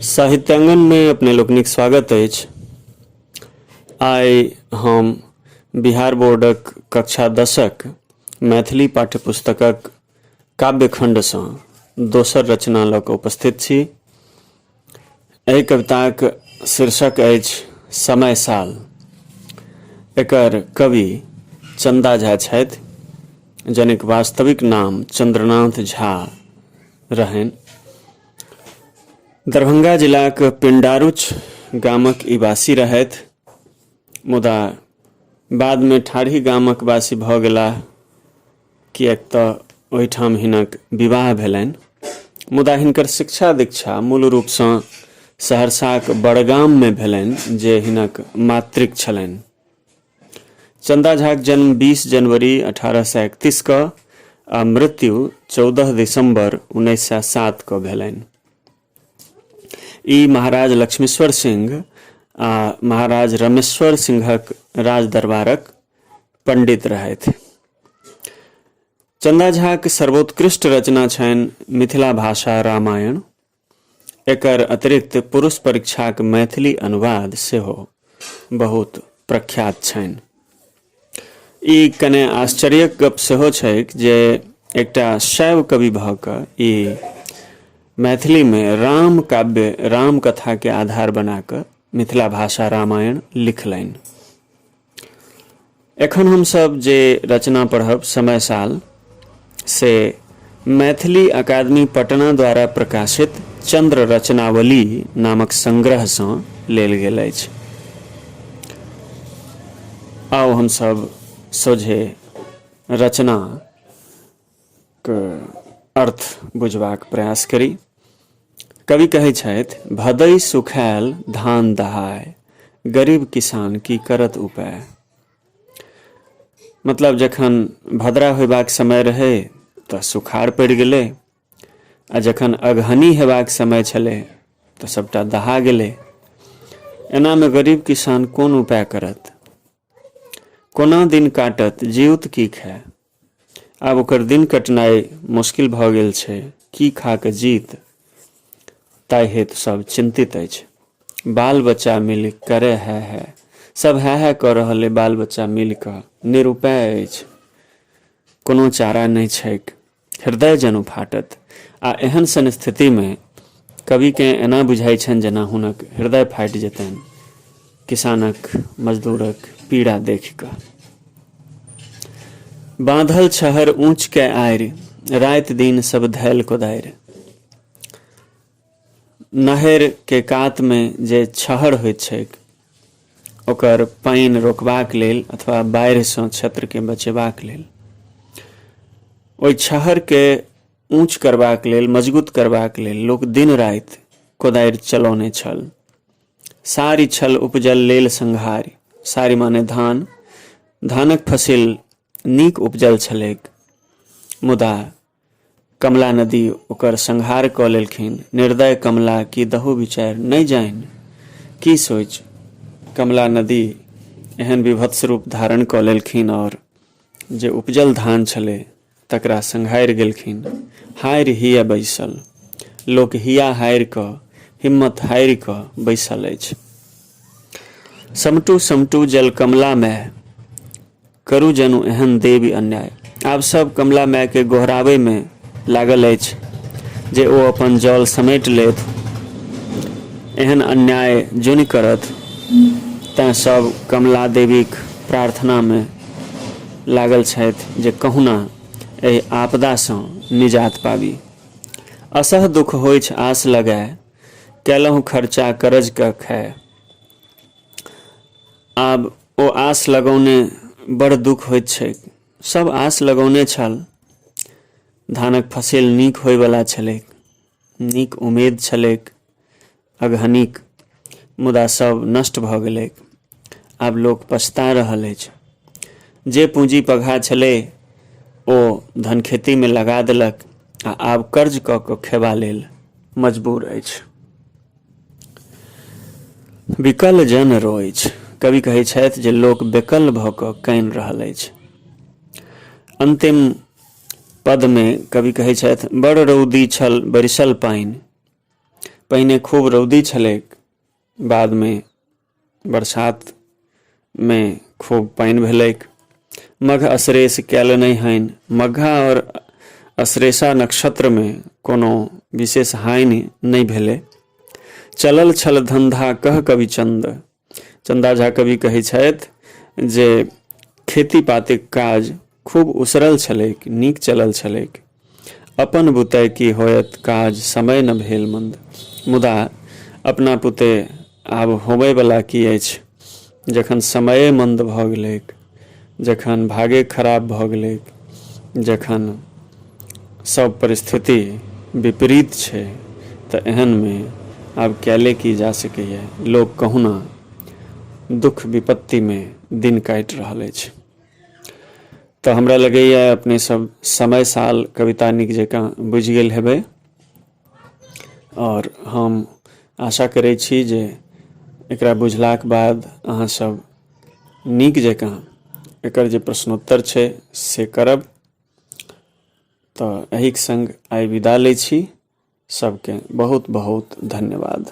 साहित्यांगन में अपने लोकनिक स्वागत अछि आइ हम बिहार बोर्डक कक्षा दसक मैथिली पाठ्यपुस्तकक काव्यखण्डसँ दोसर रचना लऽ कऽ उपस्थित छी एहि कविताक शीर्षक अछि समय साल एकर कवि चन्दा झा छथि जनिक वास्तविक नाम चन्द्रनाथ झा रहनि दरभंगा जिलाक पिंडारुच गामक ई वासी रहथि मुदा बादमे ठाढ़ी गामक वासी भऽ गेलाह किएक तऽ ओहिठाम हिनक विवाह भेलनि मुदा हिनकर शिक्षा दीक्षा मूल रूपसँ सहरसाक बड़गाममे भेलनि जे हिनक मातृक छलनि चंदा झाक जन्म 20 जनवरी 1831 क आ मृत्यु 14 दिसंबर 1907 क भेलनि ई महाराज लक्ष्मीश्वर सिंह आ महाराज रमेश्वर सिंहक राज दरबारक पंडित रहथि चंदा झाक सर्वोत्कृष्ट रचना छनि मिथिला भाषा रामायण एकर अतिरिक्त पुरुष परीक्षाक मैथिली अनुवाद सेहो बहुत प्रख्यात छनि ई कने आश्चर्यक गप सेहो छैक जे एकटा शैव कवि भऽ कऽ ई मैथिलीमे राम काव्य राम कथाके आधार बना कऽ मिथिला भाषा रामायण लिखलनि एखन हमसभ जे रचना पढ़ब समय साल से मैथिली अकादमी पटना द्वारा प्रकाशित चंद्र रचनावली नामक संग्रहसँ लेल गेल अछि आउ हमसभ सोझे रचना अर्थ बुझबाक प्रयास करी कवि कहै छथि भदै सुखायल धान दहाय गरीब किसान की करत उपाय मतलब जखन भद्रा होयबाक समय रहै तऽ सुखाड़ पड़ि गेलै आ जखन अगहनी हेबाक समय छलै तऽ सभटा दहा गेलै एनामे गरीब किसान कोन उपाय करत कोना दिन काटत जीउत की खाय आब ओकर दिन कटनाइ मुश्किल भऽ गेल छै की खा कऽ जीत ताहि हेतु सभ चिन्तित अछि बाल बच्चा मिल करे है है सभ है है कऽ रहल अइ बाल बच्चा मिल कऽ निरुपाय अछि कोनो चारा नहि छैक हृदय जनु फाटत आ एहन सन स्थितिमे कविकेँ एना बुझाइ छनि जेना हुनक हृदय फाटि जेतनि किसानक मजदूरक पीड़ा देखि कऽ बाँधल छहर ऊँच के आड़ि राति दिन सब धैल कोदारि नहर के कात मे जे छहर होइत छैक ओकर पानि रोकबाक लेल अथवा बाढ़िसँ क्षेत्रके बचेबाक लेल ओहि छहरके ऊँच करबाक लेल मजगूत करबाक लेल लोक दिन राति कोदारि चलौने छल सारी छल उपजल लेल संघारि सारी माने धान धानक फसिल नीक उपजल छलैक मुदा कमला नदी ओकर संहार कऽ लेलखिन निर्दय कमला की दहु विचार नहि जानि की सोच कमला नदी एहन विभत्स रूप धारण कऽ लेलखिन आओर जे उपजल धान छलै तकरा संग हारि गेलखिन हारि हिय बैसल लोक हिया हारि कऽ हिम्मत हारि कऽ बैसल अछि समटू समटू जल कमला माय करू जनु एहन देवी अन्याय आब सब कमला मायके गोहराबैमे लागल अछि जे ओ अपन जल समेटि लेत एहन अन्याय जुनि करत तैँ सब कमला देवीक प्रार्थनामे लागल छथि जे कहुना एहि आपदा सँ निजात पाबी। असह दुख होइछ आस लगाए, कएलहुँ खर्चा करज क खाए। आब ओ आस लगौने बड़ दुख होइत छैक। सभ आस लगौने छल। धानक फसिल नीक होइवला छलैक। नीक उमेद छलैक अगहनीक मुदा सब नष्ट भऽ गेलैक आब लोक पछता रहल अछि जे पूँजी पघा छलै ओ धन खेतीमे लगा देलक आ आब कर्ज कऽ कऽ खेबा लेल मजबूर अछि विकल जन रोय अछि कवि कहै छथि जे लोक बेकल भऽ कऽ कानि रहल अछि अन्तिम पदमे कवि कहै छथि बड़ रौदी छल बरिसल पानि पहिने खूब रौदी छलैक बादमे बरसातमे खूब पानि भेलैक मघ असरेस कयल नहि हनि मघा आओर असरेसा नक्षत्रमे कोनो विशेष हानि नहि भेलै चलल छल धन्धा कह कविचन्द चन्दा झा कवि कहै छथि जे खेती पातीक काज खूब उसरल छलैक नीक चलल छलैक अपन बुते की होयत काज समय न भेल मंद मुदा अपना पुते आब होबयवला की अछि जखन समये मन्द भऽ गेलैक जखन भागे खराब भऽ गेलैक, जखन सभ परिस्थिति विपरीत छै तँ एहन मे आब कएले की जा सकैए। लोक कहुना दुख-विपत्ति मे दिन काटि रहल अछि। तँ हमरा लगैए अपने सभ समय-साल कविता नीक जकाँ बुझि गेल हेबै। आओर हम आशा करै छी जे एकरा बुझलाक बाद अहाँ सब नीक जकाँ एकर जे प्रश्नोत्तर छै से करब तऽ एहिक संग आइ विदा लै छी सबके बहुत बहुत धन्यवाद